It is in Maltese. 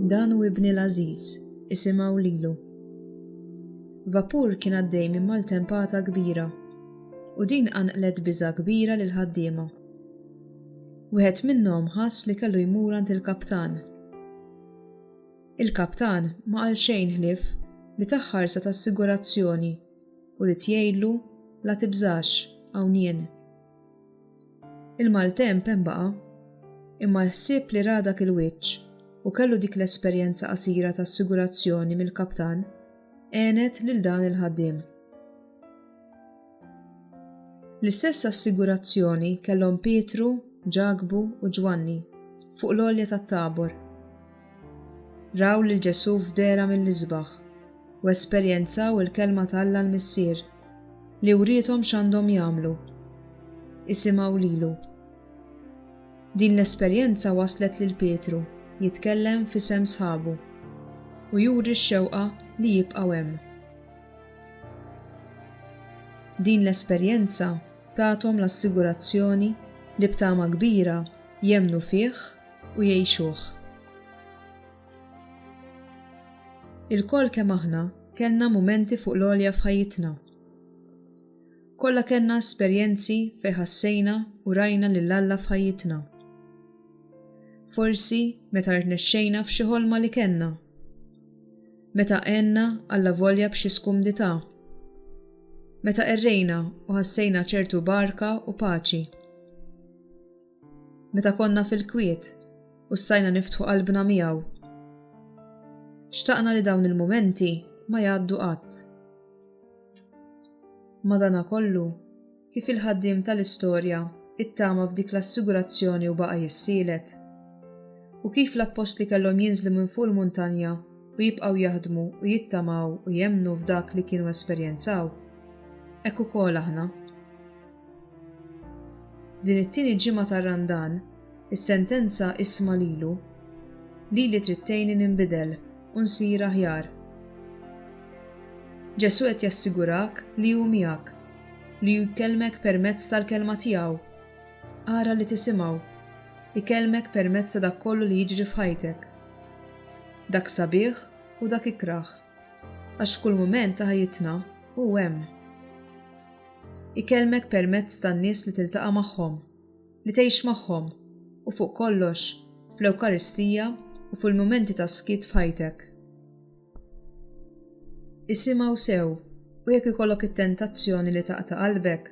Dan hu ibni l-għażiż, isimgħu lilu. Vapur kien għaddej minn maltempata kbira u din qanqlet biża' kbira lill-ħaddiema. Wieħed minnhom ħass li kellu jmur għand il-kaptan. Il-kaptan ma qal xejn ħlief li tah ħarsa ta' assigurazzjoni u rid jgħidlu la tibżax hawn jien. Il-maltemp hemm baqa', imma l-ħsieb li ra dak il-wiċċ u kellu dik l-esperjenza qasira ta' assigurazzjoni mill-kaptan għenet lil dan il-ħaddiem. L-istess assigurazzjoni kellhom Pietru, Ġakbu u Ġwanni fuq l-għolja tat-Tabor. Raw lil Ġesù f'dehra mill-isbaħ u esperjenzaw il-Kelma ta' Alla l-Missier li wriethom x'għandhom jagħmlu. Isimgħu lilu. Din l-esperjenza wasslet lil Pietru jitkellem f'isem sħabu u juri x-xewqa li jibqgħu hemm. Din l-esperjenza tathom l-assigurazzjoni li b'tama kbira jemmnu fih u jgħixuh. Ilkoll kemm aħna kellna mumenti fuq l-għolja f'ħajjitna. Kollha kellna esperjenzi fejn ħassejna u rajna lil Alla f'ħajjitna. Forsi meta rnexxejna f'xi ħolma li kellna. Meta għenna Alla volja b'xi skumdità. Meta qerrejna u ħassejna ċertu barka u paċi. Meta konna fil-kwiet u stajna niftħu qalbna miegħu. Xtaqna li dawn il-mumenti ma jgħaddu qatt. Madana kollu, kif il-ħaddiem tal-istorja ittama f'dik l-assigurazzjoni u baqa' jissielet. U kif l-appostli kellhom jinżlu minn fuq il-muntanja u jibqgħu jaħdmu u jittamaw u jemmnu f'dak li kienu esperjenzaw, hekk ukoll aħna. Din it-tieni ġimgħa ta' Randan, is-sentenza isma' lilu, Lili trid tgħinni ninbidel u nsir aħjar. Ġesù qed jassigurak li hu miegħek, li hu jkellmek permezz tal-kelma tiegħu. Ara li tisimgħu. Ikellmek permezz ta' dak kollu li jiġri f'ħajtek. Dak sabiħ u dak ikrah. Għax f'kull mument ta' ħajjitna hu hemm. Ikellmek permezz tan-nies li tiltaqa' magħhom, li tgħix magħhom, u fuq kollox, fl-Ewkaristija u fil-mumenti ta' skiet f'ħajtek. Isimgħu sew u jekk ikollok it-tentazzjoni li taqta' qalbek,